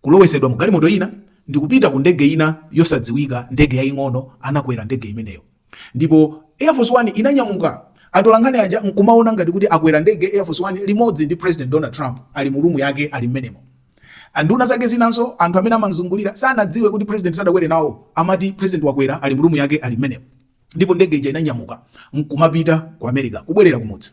kulowetsedwa mu galimoto ina, ndi kupita ku ndege ina yosadziwika, ndege yaying'ono, anakwera ndege imeneyo. Ndipo Air Force One inanyamuka, atolankhani aja nkumaona ngati kuti akwera ndege, Air Force One, limodzi ndi Purezidenti Donald Trump, ali mu rumu yake, ali mmenemo. Nduna zake zinanso, anthu amene amamzungulira, sanadziwe kuti Purezidenti sadakwere nawo. Amati Purezidenti wakwera, ali mu rumu yake, ali mmenemo. Ndipo ndege ija inanyamuka, nkumapita ku Amerika, kubwerera kumudzi.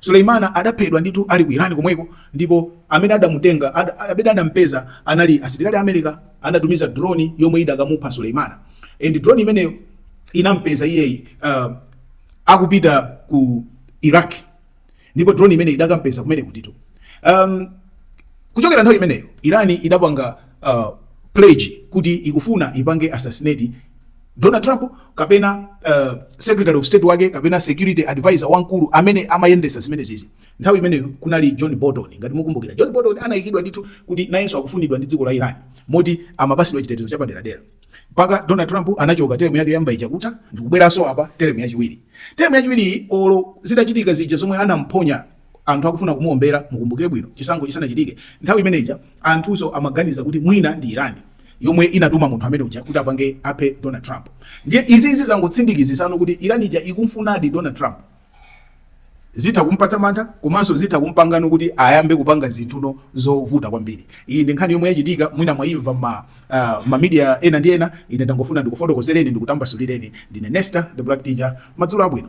Suleimana adaphedwa ndithu ali ku Iran komweko ndipo amene adamutenga ad, amene adampeza anali asilikali a America anatumiza drone yomwe idakamupha Suleimana and drone imeneyo inampeza iyeyi uh, akupita ku Iraq ndipo drone imene idakampeza kumenekutitu um, kuchokera nthawi imeneyo Iran idapanga uh, pledge kuti ikufuna ipange assassinate Donald Trump kapena uh, secretary of state wake kapena security advisor wamkulu amene amayendesa zimenezizi. Nthawi imeneyo kunali John Bolton, ngati mukumbukira John Bolton anaikidwa ndithu kuti nayenso akufunidwa ndi dziko la Iran moti amapatsidwa chitetezo chapaderadera. Mpaka Donald Trump anachoka term yake yoyamba itakatha ndikubweranso apa term yachiwiri. Term yachiwiri olo zitachitika zija zomwe anamponya anthu akufuna kumuombera. Mukumbukire bwino chisankho chisanachitike nthawi imeneija anthunso amaganiza kuti mwina ndi Iran yomwe inatuma munthu ameneuja kuti apange aphe Donald Trump. Ndiye izizi zangotsindikizitsano kuti Iran ija ikumfunadi Donald Trump zitha kumpatsa mantha komanso zitha kumpangano kuti ayambe kupanga zinthuno zovuta kwambiri. Iyi ndi nkhani yomwe yachitika mwina mwayimva ma uh, ma media ena ndi ena, ine ndangofuna ndikufotokozereni ndikutambasulireni. Ndine Nesta the Black Teacher, madzulo abwino.